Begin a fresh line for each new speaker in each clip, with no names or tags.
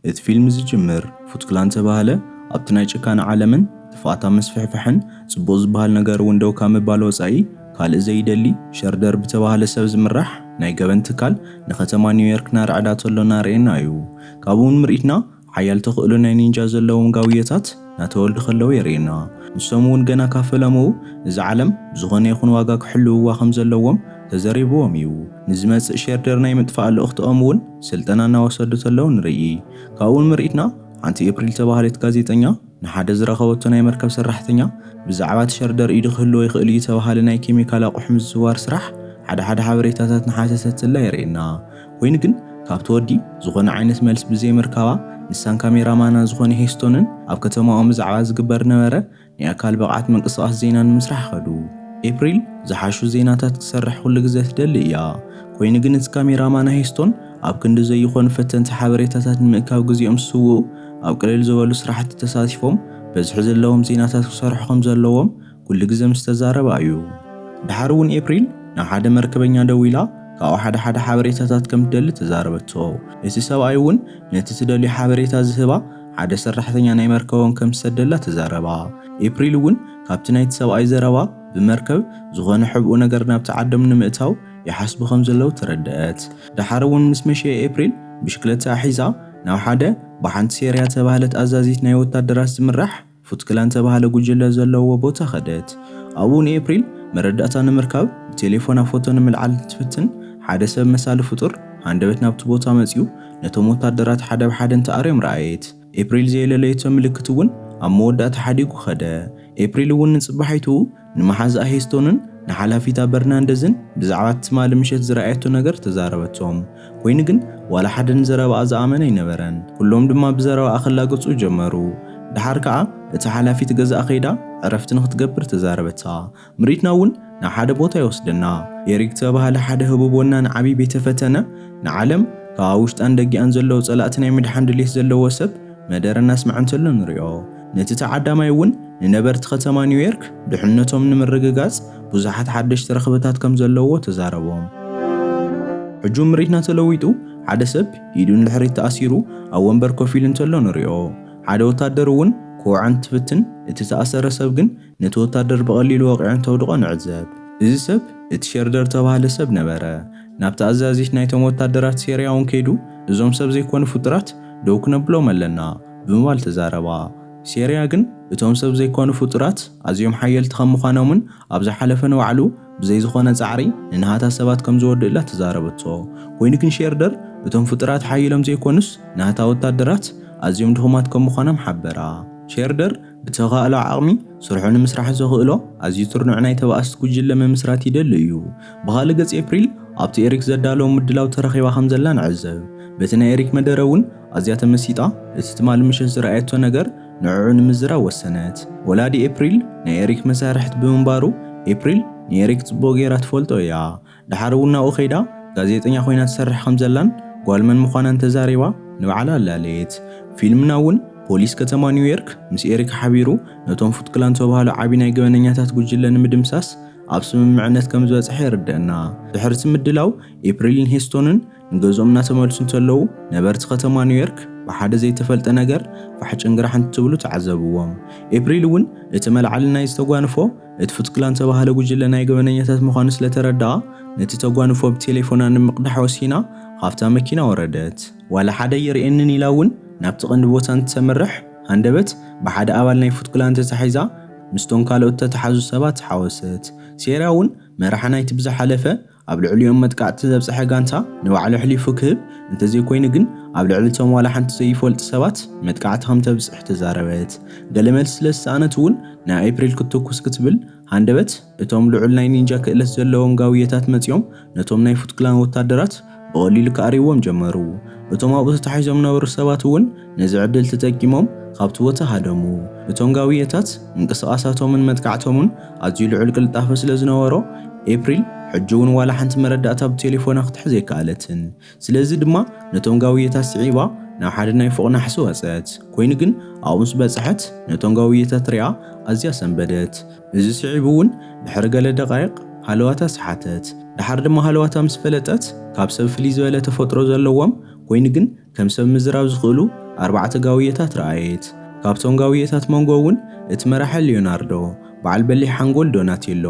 እቲ ፊልም ዝጅምር ፉትክላን ዝተባህለ ኣብቲ ናይ ጭካነ ዓለምን ጥፍኣታ ምስፍሕፋሕን ጽቡቕ ዝበሃል ነገር እውን ደው ካብ ምባል ወጻኢ ካልእ ዘይደሊ ሸርደር ብተባህለ ሰብ ዝምራሕ ናይ ገበን ትካል ንከተማ ኒውዮርክ ናርዕዳ ተሎ ናርእየና እዩ። ካብኡውን ምርኢትና ሓያል ተኽእሎ ናይ ኒንጃ ዘለዎም ጋውየታት እናተወልዱ ከለዉ የርእዩና። ንሶም እውን ገና ካብ ፈለምኡ እዛ ዓለም ብዝኾነ ይኹን ዋጋ ክሕልውዋ ከም ዘለዎም ተዘሪብዎም እዩ። ንዝመጽእ ሼርደር ናይ ምጥፋእ ልእኽትኦም እውን ስልጠና እናወሰዱ ተለዉ ንርኢ። ካብኡ ንምርኢትና ሓንቲ ኤፕሪል ዝተባህለት ጋዜጠኛ ንሓደ ዝረኸበቶ ናይ መርከብ ሰራሕተኛ ብዛዕባ እቲ ሸርደር ኢዱ ክህልዎ ይኽእል እዩ ዝተባህለ ናይ ኬሚካል ኣቑሑ ምዝዋር ስራሕ ሓደ ሓደ ሓበሬታታት እናሓተተትላ የርእየና። ኮይኑ ግን ካብቲ ወዲ ዝኾነ ዓይነት መልስ ብዘይ ምርካባ ንሳን ካሜራ ማና ዝኾነ ሄስቶንን ኣብ ከተማኦም ብዛዕባ ዝግበር ነበረ ናይ ኣካል ብቕዓት ምንቅስቓስ ዜና ንምስራሕ ከዱ። ኤፕሪል ዝሓሹ ዜናታት ክሰርሕ ኩሉ ግዘ ትደሊ እያ ኮይኑ ግን እቲ ካሜራ ማና ሄስቶን ኣብ ክንዲ ዘይኾኑ ፈተንቲ ሓበሬታታት ንምእካብ ግዜኦም ዝስውኡ ኣብ ቅልል ዝበሉ ስራሕቲ ተሳቲፎም በዝሒ ዘለዎም ዜናታት ክሰርሑ ከምዘለዎም ኩሉ ግዘ ምስ ተዛረባ እዩ። ደሓር እውን ኤፕሪል ናብ ሓደ መርከበኛ ደዊላ ካብኡ ሓደ ሓደ ሓበሬታታት ከም ትደሊ ተዛረበቶ። እቲ ሰብኣይ እውን ነቲ ትደልዮ ሓበሬታ ዝህባ ሓደ ሰራሕተኛ ናይ መርከቦም ከም ዝሰደላ ተዛረባ። ኤፕሪል እውን ካብቲ ናይቲ ሰብኣይ ዘረባ ብመርከብ ዝኾነ ሕብኡ ነገር ናብቲ ዓዶም ንምእታው ይሓስቡ ከም ዘለዉ ተረደኣት። ደሓር እውን ምስ መሸየ ኤፕሪል ብሽክለታኣ ሒዛ ናብ ሓደ ብሓንቲ ሴርያ ዝተባህለት ኣዛዚት ናይ ወታደራት ዝምራሕ ፉትክላን ዝተባህለ ጉጅለ ዘለዎ ቦታ ከደት። ኣብኡ ንኤፕሪል መረዳእታ ንምርካብ ብቴሌፎና ፎቶ ንምልዓል እንትትፍትን፣ ሓደ ሰብ መሳሊ ፍጡር ሃንደበት ናብቲ ቦታ መጺኡ ነቶም ወታደራት ሓደ ብሓደ እንትኣርዮም ረኣየት። ኤፕሪል ዘየለለየቶ ምልክት'ውን ኣብ መወዳእታ ሓዲጉ ከደ። ኤፕሪል'ውን ንጽባሒቱ ንመሓዝኣ ሄስቶንን ንሓላፊታ በርናንደዝን ብዛዕባ'ቲ ትማሊ ምሸት ዝረኣየቶ ነገር ተዛረበቶም። ኰይኑ ግን፣ ዋላ ሓደ ንዘረባኣ ዝኣመነ ኣይነበረን። ኵሎም ድማ ብዘረባኣ ክላገጹ ጀመሩ። ደሓር ከኣ እታ ሓላፊት ገዝኣ ከይዳ ዕረፍቲ ንኽትገብር ተዛረበታ። ምርኢትና እውን ናብ ሓደ ቦታ ይወስደና። ኤሪክ ዝተባህለ ሓደ ህቡብ ወናኒ ዓቢ ቤተ ፈተነ፣ ንዓለም ካብ ኣብ ውሽጣን ደጊኣን ዘለዉ ጸላእቲ ናይ ምድሓን ድሌት ዘለዎ ሰብ መደረ እናስምዐ እንተሎ ንሪኦ። ነቲ ተዓዳማይ እውን ንነበርቲ ከተማ ኒውዮርክ ድሕነቶም ንምርግጋጽ ብዙሓት ሓደሽቲ ረኽበታት ከም ዘለዎ ተዛረቦም። ሕጂ ምርኢትና ተለዊጡ ሓደ ሰብ ኢዱ ንድሕሪት ተኣሲሩ ኣብ ወንበር ኮፍ ኢሉ እንተሎ ንሪኦ። ሓደ ወታደር እውን ክወዖ እንትፍትን እቲ ዝተኣሰረ ሰብ ግን ነቲ ወታደር ብቐሊሉ ወቒዑ እንተውድቖ ንዕዘብ። እዚ ሰብ እቲ ሸርደር እተባህለ ሰብ ነበረ። ናብቲ ኣዛዚት ናይቶም ወታደራት ሴርያውን ከይዱ፣ እዞም ሰብ ዘይኰኑ ፍጡራት ደው ክነብሎም ኣለና ብምባል ተዛረባ። ሴርያ ግን እቶም ሰብ ዘይኰኑ ፍጡራት ኣዝዮም ሓየልቲ ከም ምዃኖምን ኣብ ዝሓለፈ ንባዕሉ ብዘይ ዝዀነ ጻዕሪ ንናህታ ሰባት ከም ዝወድእላ ተዛረበቶ። ኰይኑ ግን ሸርደር እቶም ፍጡራት ሓዪሎም ዘይኰኑስ ናህታ ወታደራት ኣዝዮም ድኹማት ከም ምዃኖም ሓበራ። ሸርደር ብተኻእሎ ዓቕሚ ስርሑ ንምስራሕ ዘኽእሎ ኣዝዩ ትርኑዕ ናይ ተባኣስቲ ጉጅለ ምምስራት ይደሊ እዩ። ብኻልእ ገጽ ኤፕሪል ኣብቲ ኤሪክ ዘዳለዎ ምድላው ተረኺባ ከም ዘላ ንዕዘብ። በቲ ናይ ኤሪክ መደረ እውን ኣዝያ ተመሲጣ እቲ ትማሊ ምሸት ዝረኣየቶ ነገር ንዕዑ ንምዝራብ ወሰነት። ወላዲ ኤፕሪል ናይ ኤሪክ መሳርሕት ብምንባሩ ኤፕሪል ንኤሪክ ጽቡቕ ገይራ ትፈልጦ እያ። ደሓር እውን ናብኡ ከይዳ ጋዜጠኛ ኮይና ትሰርሕ ከም ዘላን ጓል መን ምዃና እንተዛሪባ ንባዕላ ኣላለየት። ፊልምና እውን ፖሊስ ከተማ ኒውዮርክ ምስ ኤሪካ ሓቢሩ ነቶም ፉት ክላን ዝተብሃሉ ዓቢ ናይ ገበነኛታት ጉጅለ ንምድምሳስ ኣብ ስምምዕነት ከም ዝበጽሐ የርደእና። ድሕርቲ ምድላው ኤፕሪልን ሄስቶንን፣ ንገዝኦም እናተመልሱ እንተለዉ ነበርቲ ከተማ ኒውዮርክ ብሓደ ዘይተፈልጠ ነገር ፋሕ ጭንግራሕ እንትብሉ ተዓዘብዎም። ኤፕሪል እውን እቲ መልዓሊ ናይ ዝተጓንፎ እቲ ፉትክላን ዝተባህለ ጉጅለ ናይ ገበነኛታት ምዃኑ ስለተረድኣ ነቲ ተጓንፎ ብቴሌፎና ንምቕዳሕ ወሲና ኻብታ መኪና ወረደት። ዋላ ሓደ ኣይርእየንን ኢላ እውን ናብቲ ቐንዲ ቦታ እንትተምርሕ ሃንደበት ብሓደ ኣባል ናይ ፉትክላን ተታሒዛ ምስቶም ካልኦት ዝተታሕዙ ሰባት ተሓወሰት። ሴራ እውን መራሒ ናይቲ ብዝሓለፈ ኣብ ልዕሊኦም መጥቃዕቲ ዘብጽሐ ጋንታ ንባዕሉ ኣሕሊፉ ክህብ፣ እንተዘይኮይኑ ግን ኣብ ልዕሊ እቶም ዋላ ሓንቲ ዘይፈልጡ ሰባት መጥቃዕቲ ከም ተብጽሕ ተዛረበት። ገለ መልሲ ስለ ዝሰኣነት እውን ናብ ኤፕሪል ክትትኩስ ክትብል ሃንደበት፣ እቶም ልዑል ናይ ኒንጃ ክእለት ዘለዎም ጋውየታት መጺኦም ነቶም ናይ ፉት ክላን ወታደራት ብቐሊሉ ክኣርይዎም ጀመሩ። እቶም ኣብኡ ተታሒዞም ዝነበሩ ሰባት እውን፣ ነዚ ዕድል ተጠቂሞም ካብቲ ቦታ ሃደሙ። እቶም ጋውየታት ምንቅስቓሳቶምን መጥቃዕቶምን ኣዝዩ ልዑል ቅልጣፈ ስለ ዝነበሮ፣ ኤፕሪል ሕጂ'ውን ዋላ ሓንቲ መረዳእታ ብቴሌፎና ክትሕዝ ኣይከኣለትን። ስለዚ ድማ ነቶም ጋውየታት ስዒባ ናብ ሓደ ናይ ፎቕ ናሕሲ ወጸት። ኰይኑ ግን ኣብኡ ምስ በጽሐት ነቶም ጋውየታት ርእያ ኣዝያ ሰንበደት። እዚ ስዒቡ'ውን ድሕሪ ገለ ደቓይቕ ሃለዋታ ሰሓተት። ደሓር ድማ ሃለዋታ ምስ ፈለጠት ካብ ሰብ ፍልይ ዝበለ ተፈጥሮ ዘለዎም ኰይኑ ግን ከም ሰብ ምዝራብ ዝኽእሉ ኣርባዕተ ጋውየታት ረኣየት። ካብቶም ጋውየታት መንጎ እውን እቲ መራሒ ሊዮናርዶ፣ በዓል በሊሕ ሓንጎል ዶናቴሎ፣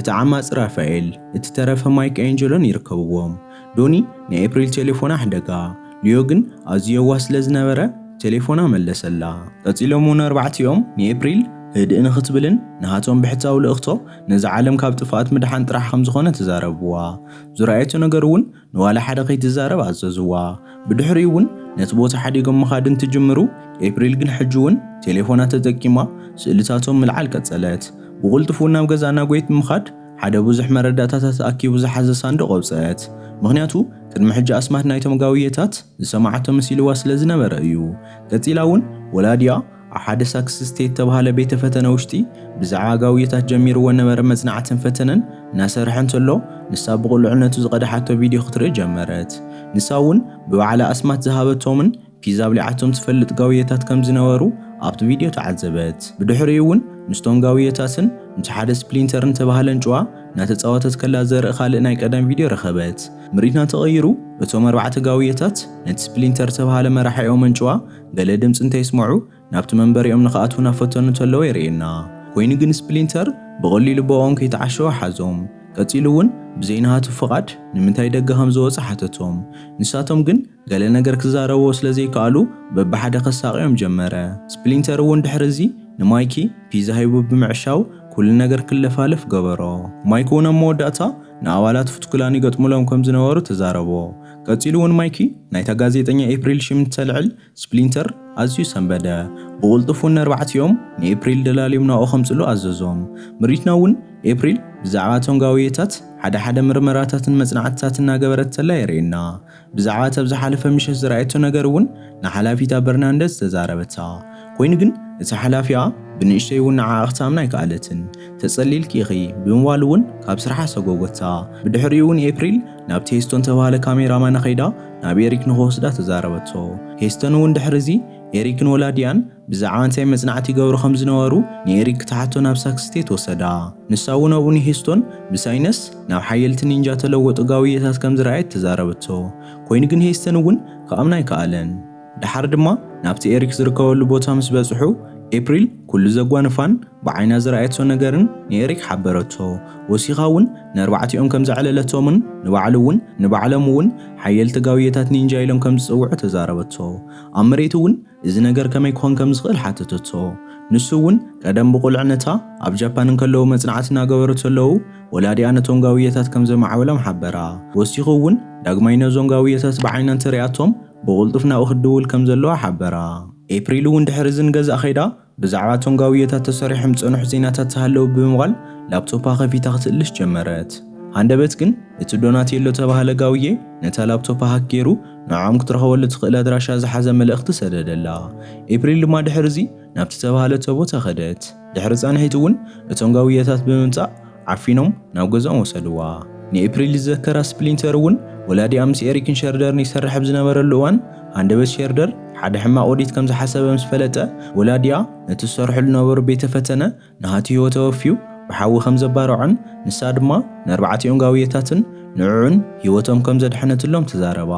እቲ ዓማጺ ራፋኤል፣ እቲ ተረፈ ማይክ ኣንጀሎን ይርከብዎም። ዶኒ ንኤፕሪል ቴሌፎና ኣሕደጋ፣ ሊዮ ግን ኣዝዩ የዋህ ስለ ዝነበረ ቴሌፎና መለሰላ። ቀጺሎም እውን ኣርባዕቲኦም ንኤፕሪል ህድእ ንኽትብልን ንሃቶም ብሕታዊ ልእኽቶ ነዛ ዓለም ካብ ጥፍኣት ምድሓን ጥራሕ ከም ዝኾነ ተዛረብዋ። ዝረኣየቶ ነገር እውን ንዋላ ሓደ ከይትዛረብ ኣዘዝዋ። ብድሕሪኡ እውን ነቲ ቦታ ሓዲጎም ምኻድ እንትጅምሩ፣ ኤፕሪል ግን ሕጂ እውን ቴሌፎና ተጠቂማ ስእልታቶም ምልዓል ቀጸለት። ብቕልጡፍ እውን ናብ ገዛ ናጎየት ብምኻድ ሓደ ብዙሕ መረዳእታታት ኣኪቡ ዝሓዘ ሳንዱቕ ኣውጸኣት። ምኽንያቱ ቅድሚ ሕጂ ኣስማት ናይቶም ጋውየታት ዝሰማዓቶ መሲልዋ ስለ ዝነበረ እዩ። ቀጺላ እውን ወላዲኣ ኣብ ሓደ ሳክስ ስቴት ተባሃለ ቤተ ፈተነ ውሽጢ ብዛዕባ ጋውዮታት ጀሚርዎ ነበረ መጽናዕትን ፈተነን እናሰርሐ እንተሎ ንሳ ብቑልዕነቱ ዝቐድሓቶ ቪድዮ ክትርኢ ጀመረት። ንሳ እውን ብባዕላ ኣስማት ዝሃበቶምን ፒዝ ኣብሊዓቶም ትፈልጥ ጋውዮታት ከም ዝነበሩ ኣብቲ ቪድዮ ተዓዘበት። ብድሕሪኡ እውን ምስቶም ጋውዮታትን ምስ ሓደ ስፕሊንተር ንተባህለ ኣንጭዋ እናተጻወተት ከላ ዘርኢ ካልእ ናይ ቀደም ቪድዮ ረኸበት። ምርኢትና ተቐይሩ እቶም ኣርባዕተ ጋውዮታት ነቲ ስፕሊንተር ዝተባህለ መራሒኦም ኣንጭዋ ገለ ድምጺ እንተ ይስመዑ ናብቲ መንበሪኦም ንኽኣትዉ ናፈተኑ እንተለዉ የርእየና። ኮይኑ ግን ስፕሊንተር ብቐሊሉ ብኦኦም ከይተዓሸወ ሓዞም። ቀጺሉ እውን ብዘይ ናሃቱ ፍቓድ ንምንታይ ደገ ከም ዝወጸ ሓተቶም። ንሳቶም ግን ገለ ነገር ክዛረብዎ ስለ ዘይከኣሉ በብሓደ ከሳቕዮም ጀመረ። ስፕሊንተር እውን ድሕሪ እዚ ንማይኪ ፒዛ ሂቡ ብምዕሻው ኩሉ ነገር ክለፋለፍ ገበሮ። ማይኪ እውን ኣብ መወዳእታ ንኣባላት ፉት-ክላን ይገጥሙሎም ከም ዝነበሩ ተዛረቦ። ቀጺሉ እውን ማይኪ ናይታ ጋዜጠኛ ኤፕሪል ሽም እንተልዕል ስፕሊንተር ኣዝዩ ሰንበደ። ብቕልጡፍ እውን ነርባዕቲኦም ንኤፕሪል ደላልዮም ናብኡ ከምጽሉ ኣዘዞም። ምርኢትና እውን ኤፕሪል ብዛዕባ እቶም ጋውየታት ሓደ ሓደ ምርመራታትን መጽናዕትታት እናገበረት ተላ የርእየና። ብዛዕባ እቲ ኣብ ዝሓለፈ ምሸት ዝረኣየቶ ነገር እውን ንሓላፊታ በርናንደዝ ተዛረበታ። ኮይኑ ግን እቲ ሓላፊኣ ብንእሽተይ እውን ንዓኣ ክትኣምና ኣይከኣለትን። ተጸሊልኪ ኢኺ ብምባል እውን ካብ ስርሓ ሰጐጐታ። ብድሕሪኡ እውን ኤፕሪል ናብቲ ሄስቶን ዝተባህለ ካሜራማና ከይዳ ናብ ኤሪክ ንኽወስዳ ተዛረበቶ። ሄስቶን እውን ድሕሪዚ ኤሪክን ወላዲኣን ብዛዕባ እንታይ መጽናዕቲ ይገብሩ ከም ዝነበሩ ንኤሪክ ክትሓቶ ናብ ሳክ ስቴት ወሰዳ። ንሳ እውን ኣብኡ ንሄስቶን ብሳይነስ ናብ ሓየልቲ ኒንጃ ተለወጡ ጋውየታት ከም ዝረኣየት ተዛረበቶ። ኮይኑ ግን ሄስቶን እውን ክኣምና ኣይከኣለን። ደሓር ድማ ናብቲ ኤሪክ ዝርከበሉ ቦታ ምስ በጽሑ፣ ኤፕሪል ኩሉ ዘጓንፋን ብዓይና ዝረኣየቶ ነገርን ንኤሪክ ሓበረቶ። ወሲኻ እውን ነርባዕቲኦም ከም ዘዕለለቶምን ንባዕሉ እውን ንባዕሎም እውን ሓየልቲ ጋውየታት ኒንጃ ኢሎም ከም ዝጽውዑ ተዛረበቶ። ኣብ መሬት እውን እዚ ነገር ከመይ ክኾን ከም ዝኽእል ሓተተቶ። ንሱ እውን ቀደም ብቑልዕነታ ኣብ ጃፓን እንከለዉ መጽናዕቲ እናገበሩ ተለዉ ወላዲኣ ነቶም ጋውየታት ከም ዘማዕበሎም ሓበራ። ወሲኹ እውን ዳግማይ ነዞም ጋውየታት ብዓይና እንተርእያቶም ብቕልጡፍ ናብኡ ክትድውል ከም ዘለዋ ሓበራ። ኤፕሪል እውን ድሕሪዚ ንገዛእ ከይዳ ብዛዕባ እቶም ጋውዮታት ተሰሪሖም ዝጸንሑ ዜናታት ዝሃለዉ ብምባል ላፕቶፓ ከፊታ ክትእልሽ ጀመረት። ሃንደበት ግን እቲ ዶናቴሎ እተባህለ ጋውዬ ነታ ላፕቶፓ ሃክ ገይሩ ንዖዖም ክትረኽበሉ እትኽእል ኣድራሻ ዝሓዘ መልእኽቲ ሰደደላ። ኤፕሪል ድማ ድሕሪዚ ናብቲ እተባህለቶ ቦታ ከደት። ድሕሪ ጻንሒት እውን እቶም ጋውዮታት ብምምጻእ ዓፊኖም ናብ ገዝኦም ወሰድዋ። ንኤፕሪል ዝዘከራ ስፕሊንተር እውን፣ ወላዲኣ ምስ ኤሪክን ሸርደርን ይሰርሕ ኣብ ዝነበረሉ እዋን፣ ሃንደበት ሸርደር ሓደ ሕማቕ ውዲት ከም ዝሓሰበ ምስ ፈለጠ፣ ወላዲኣ ነቲ ዝሰርሕሉ ዝነበሩ ቤተ ፈተነ ንሃቲ ህይወተ ወፍዩ ብሓዊ ከም ዘባረዖን ንሳ ድማ ንኣርባዕቲኦም ጋውየታትን ንዕዑን ህይወቶም ከም ዘድሐነትሎም ተዛረባ።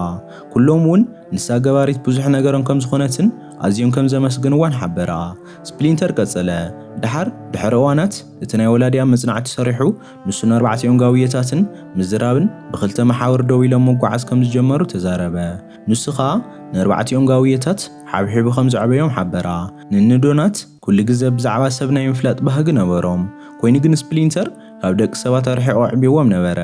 ኩሎም እውን ንሳ ገባሪት ብዙሕ ነገሮም ከም ዝኾነትን ኣዝዮም ከም ዘመስገንዋን ሓበራ። ስፕሊንተር ቀጸለ፣ ደሓር ድሕሪ እዋናት፣ እቲ ናይ ወላዲኣ መጽናዕቲ ሰሪሑ፣ ንሱን ኣርባዕቲኦም ጋውየታትን ምዝራብን ብኽልተ መሓውር ደው ኢሎም ምጉዓዝ ከም ዝጀመሩ ተዛረበ። ንሱ ኸኣ ንኣርባዕቲኦም ጋውየታት ሓብሒቡ ከም ዘዕበዮም ሓበራ። ንእኒ ዶናት ኵሉ ግዘ ብዛዕባ ሰብ ናይ ምፍላጥ ባህጊ ነበሮም። ኰይኑ ግን ስፕሊንተር ካብ ደቂ ሰባት ኣርሒቑ ኣዕብይዎም ነበረ።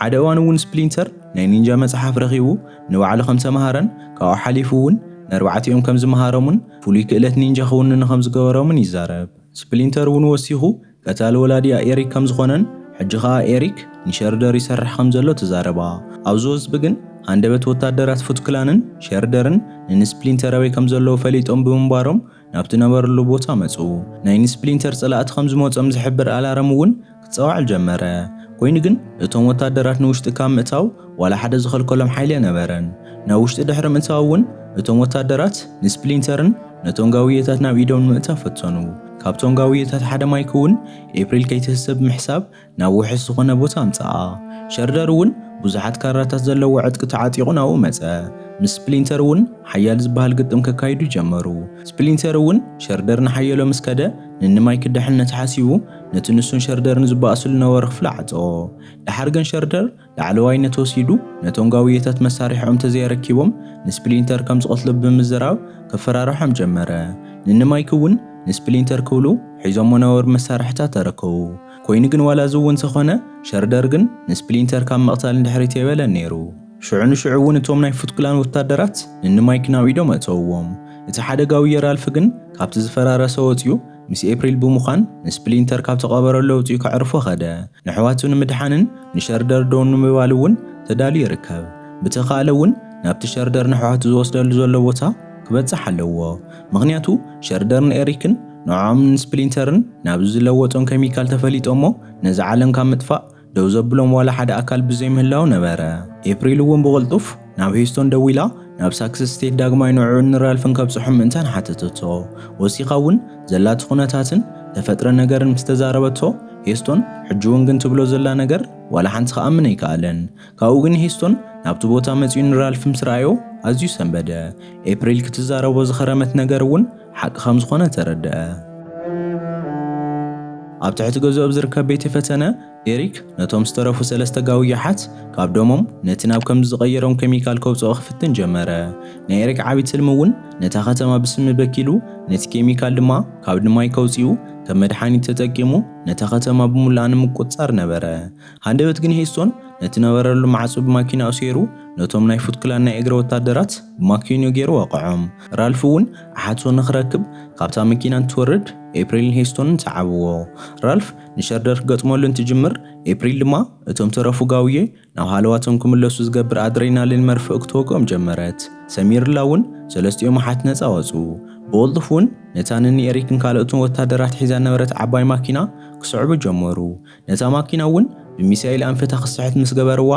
ሓደ እዋን እውን ስፕሊንተር ናይ ኒንጃ መጽሓፍ ረኺቡ ንባዕሉ ከም ዝተመሃረን ካብኡ ሓሊፉ እውን ንኣርባዕቲኦም ከም ዝመሃሮምን ፍሉይ ክእለት ኒንጃ ክውንኑ ከም ዝገበሮምን ይዛረብ። ስፕሊንተር እውን ወሲኹ፣ ቀታሊ ወላዲኣ ኤሪክ ከም ዝዀነን ሕጂ ኸኣ ኤሪክ ንሸርደር ይሰርሕ ከም ዘሎ ተዛረባ። ኣብ ዝወዝቢ ግን፣ ሃንደበት ወተሃደራት ፉት ክላንን ሸርደርን ንንስፕሊንተር ኣበይ ከም ዘለዉ ፈሊጦም ብምንባሮም ናብቲ ነበረሉ ቦታ መጹ። ናይ ንስፕሊንተር ጸላእቲ ከም ዝመጾም ዝሕብር ኣላርም እውን ክጻወዓል ጀመረ። ኮይኑ ግን እቶም ወታደራት ንውሽጢ ካብ ምእታው ዋላ ሓደ ዝኸልከሎም ሓይሊ ኣነበረን። ናብ ውሽጢ ድሕሪ ምእታው እውን እቶም ወታደራት ንስፕሊንተርን ነቶም ጋውየታት ናብ ኢዶም ንምእታው ፈተኑ። ካብቶም ጋውየታት ሓደ ማይክ እውን ኤፕሪል ከይትህሰ ብምሕሳብ ናብ ውሑስ ዝኾነ ቦታ ኣምጽኣ። ሸርደር እውን ብዙሓት ካራታት ዘለዎ ዕጥቂ ተዓጢቑ ናብኡ መጸ። ምስ ስፕሊንተር እውን ሓያል ዝበሃል ግጥም ከካይዱ ጀመሩ። ስፕሊንተር እውን ሸርደር ንሓየሎ ምስ ከደ ንንማይክ ደሕንነት ሓሲቡ ነቲ ንሱን ሸርደርን ዝበኣስሉ ነበሩ ክፍሊ ዓጸዎ። ደሓር ግን ሸርደር ላዕለዋይነት ወሲዱ ነቶም ጋውዮታት መሳርሒኦም ተዘየረኪቦም ንስፕሊንተር ከም ዝቐትሎ ብምዝራብ ከፈራርሖም ጀመረ። ንኒ ማይክ እውን ንስፕሊንተር ክብሉ ሒዞሞ ነበሩ መሳርሒታት ኣረከቡ። ኮይኑ ግን ዋላ እዚ እውን ተኾነ ሸርደር ግን ንስፕሊንተር ካብ ምቕታል ንድሕሪት ኣይበለን ነይሩ። ሽዑ ንሽዑ እውን እቶም ናይ ፉትክላን ወታደራት ንኒ ማይክ ናብ ኢዶም ኣእተውዎም። እቲ ሓደ ጋውዮ ራልፍ ግን ካብቲ ዝፈራረሰ ወጺኡ ምስ ኤፕሪል ብምዃን ንስፕሊንተር ካብ ተቐበረሉ ኣውጺኡ ከዕርፎ ከደ። ነሕዋቱ ንምድሓንን ንሸርደር ደው ንምባል እውን ተዳልዩ ይርከብ። ብተኻእለ እውን ናብቲ ሸርደር ነሕዋቱ ዝወስደሉ ዘሎ ቦታ ክበጽሕ ኣለዎ። ምኽንያቱ ሸርደርን ኤሪክን ንዖዖምን ንስፕሊንተርን ናብዚ ዝለወጦም ከሚካል ተፈሊጦሞ ነዚ ዓለም ካብ ምጥፋእ ደው ዘብሎም ዋላ ሓደ ኣካል ብዘይምህላው ነበረ። ኤፕሪል እውን ብቕልጡፍ ናብ ሂዩስቶን ደዊላ ናብ ሳክስ ስቴት ዳግማይ ንዕዑን ንራልፍን ከብጽሖም ምእንታን ሓተተቶ። ወሲኻ እውን ዘላቶ ኩነታትን ተፈጥረ ነገርን ምስ ተዛረበቶ ሂዩስቶን ሕጂ እውን ግን ትብሎ ዘላ ነገር ዋላ ሓንቲ ክኣምን ኣይከኣለን። ካብኡ ግን ሂዩስቶን ናብቲ ቦታ መጺኡ ንራልፍ ምስ ረኣዮ ኣዝዩ ሰንበደ። ኤፕሪል ክትዛረቦ ዝኸረመት ነገር እውን ሓቂ ከም ዝኾነ ተረድኣ። ኣብ ትሕቲ ገዝኡ ኣብ ዝርከብ ቤተ ፈተነ፣ ኤሪክ ነቶም ዝተረፉ ሰለስተ ጋውይ ኣሓት ካብ ደሞም ነቲ ናብ ከምዚ ዝቐየሮም ኬሚካል ከውጽኦ ክፍትን ጀመረ። ናይ ኤሪክ ዓቢ ትልሚ እውን ነታ ከተማ ብስሚ በኪሉ፣ ነቲ ኬሚካል ድማ ካብ ንማይ ከውጽኡ ከም መድሓኒት ተጠቂሙ ነታ ከተማ ብሙሉኣ ንምቁጽጻር ነበረ። ሃንደበት ግን ሄስቶን ነቲ ነበረሉ ማዕጾ ብማኪናኡ ሰይሩ ነቶም ናይ ፉት ክላን ናይ እግሪ ወታደራት ብማኪንኡ ገይሩ ወቐዖም። ራልፍ እውን ኣሓቶ ንኽረክብ ካብታ መኪና እንትወርድ ኤፕሪልን ሄስቶንን ሰዓብዎ። ራልፍ ንሸርደር ክገጥመሉ እንትጅምር ኤፕሪል ድማ እቶም ተረፉ ጋውዬ ናብ ሃለዋቶም ክምለሱ ዝገብር ኣድሬናሊን መርፍእ ክትወግኦም ጀመረት። ሰሚርላ እውን ሰለስቲኦም ኣሓት ነጻ ወጹ። ብቕልጡፍ እውን ነታ ንኒ ኤሪክን ካልኦትን ወታደራት ሒዛ ዝነበረት ዓባይ ማኪና ክስዕቡ ጀመሩ። ነታ ማኪና እውን ብሚሳይል ኣንፈታ ክትስሕት ምስ ገበርዋ፣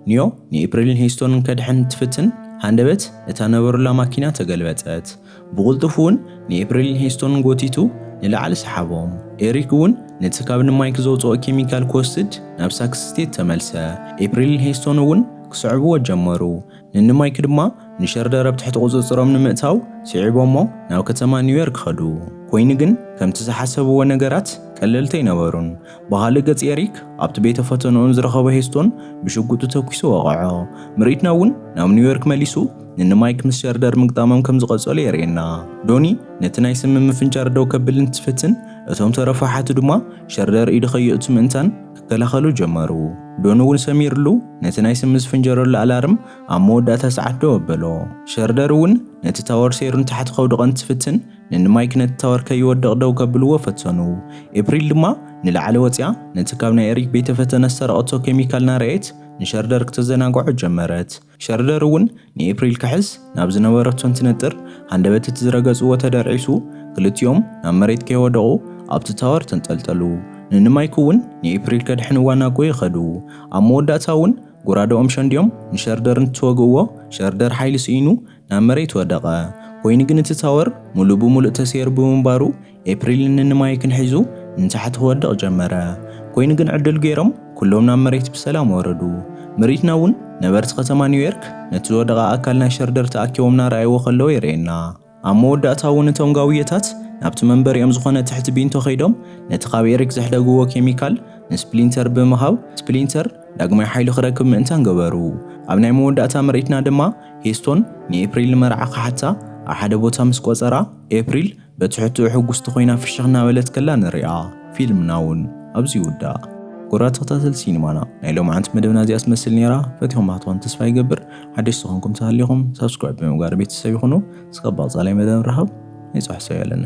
ኒዮ ንኤፕሪልን ሄስቶንን ከድሕን እንትፍትን፣ ሃንደበት እታ ነበሩላ ማኪና ተገልበጠት። ብቕልጡፍ እውን ንኤፕሪልን ሄስቶንን ጎቲቱ ንላዕሊ ሰሓቦም። ኤሪክ እውን ነቲ ካብ ንማይክ ዘውጽኦ ኬሚካል ክወስድ ናብ ሳክስ ስቴት ተመልሰ። ኤፕሪልን ሄስቶን እውን ክስዕብዎ ጀመሩ። ንንማይክ ድማ ንሸርደር ኣብ ትሕቲ ቁጽጽሮም ንምእታው ስዒቦሞ ናብ ከተማ ኒውዮርክ ከዱ። ኮይኑ ግን ከምቲ ዝሓሰብዎ ነገራት ቀለልቲ ኣይነበሩን። ብኻልእ ገጽ ኤሪክ ኣብቲ ቤተ ፈተንኡን ዝረኸቦ ሄስቶን ብሽጉጡ ተኲሱ ወቐዖ። ምርኢትና እውን ናብ ኒውዮርክ መሊሱ ንንማይክ ምስ ሸርደር ምግጣሞም ከም ዝቐጸሉ የርእየና። ዶኒ ነቲ ናይ ስሚ ምፍንጫር ደው ከብል እንትፍትን እቶም ተረፉ ኣሓቱ ድማ ሸርደር ኢዱ ከየእቱ ምእንታን ክከላኸሉ ጀመሩ። ዶን እውን ሰሚርሉ ነቲ ናይ ስሚ ዝፍንጀረሉ ኣላርም ኣብ መወዳእታ ሰዓት ደው ኣበሎ። ሸርደር እውን ነቲ ታወር ሰይሩ ንታሕቲ ከውድቐ እንትፍትን ንንማይክ ነቲ ታወር ከይወድቕ ደው ከብልዎ ፈተኑ። ኤፕሪል ድማ ንላዕሊ ወጺኣ ነቲ ካብ ናይ ኤሪክ ቤተ-ፈተነ ዝሰረቐቶ ኬሚካል እናርኣየት ንሸርደር ክተዘናግዖ ጀመረት። ሸርደር እውን ንኤፕሪል ክሕስ ናብ ዝነበረቶ እንትነጥር ሃንደበት እቲ ዝረገጽዎ ተደርዒሱ ክልቲኦም ናብ መሬት ከይወደቑ ኣብቲ ታወር ተንጠልጠሉ። ንንማይክ እውን ንኤፕሪል ከድሕንዋ ናጎየ ከዱ። ኣብ መወዳእታ እውን ጎራደኦም ሸንዲዮም ንሸርደር እንትወግእዎ ሸርደር ሓይሊ ስኢኑ ናብ መሬት ወደቐ። ኮይኑ ግን እቲ ታወር ምሉእ ብምሉእ ተሰይሩ ብምንባሩ ኤፕሪል ንንማይክን ሒዙ ንታሕቲ ክወድቕ ጀመረ። ኮይኑ ግን ዕድል ገይሮም ኩሎም ናብ መሬት ብሰላም ወረዱ። ምርኢትና እውን ነበርቲ ከተማ ኒውዮርክ ነቲ ዝወደቐ ኣካል ናይ ሸርደር ተኣኪቦም ናርኣይዎ ከለዉ የርእየና። ኣብ መወዳእታ እውን እቶም ጋውየታት ናብቲ መንበሪኦም ዝኾነ ትሕቲ ቢንቶ ከይዶም ነቲ ካብ ኤሪክ ዘሕደግዎ ኬሚካል ንስፕሊንተር ብምሃብ ስፕሊንተር ዳግማይ ሓይሊ ክረክብ ምእንታን ገበሩ። ኣብ ናይ መወዳእታ ምርኢትና ድማ ሄስቶን ንኤፕሪል ንመርዓ ክሓታ ኣብ ሓደ ቦታ ምስ ቆጸራ ኤፕሪል በትሕትኡ ሕጉስቲ ኮይና ፍሽኽ እናበለት ከላ ንሪኣ። ፊልምና ውን ኣብዚ ይውዳእ። ኩቡራት ተኸታተልቲ ሲኒማና ናይ ሎምዓንቲ መደብና እዚኣ ትመስል ኔራ ፈቲኹማ ትኾኑ ተስፋ ይገብር ሓደሽቲ ኮንኩም ተሃሊኹም ሳብስክራይብ ብምግባር ቤተሰብ ይኹኑ እስካብ ብቐጻላይ መደብ ንራኸብ ናይ ጽባሕ ሰው ያለና።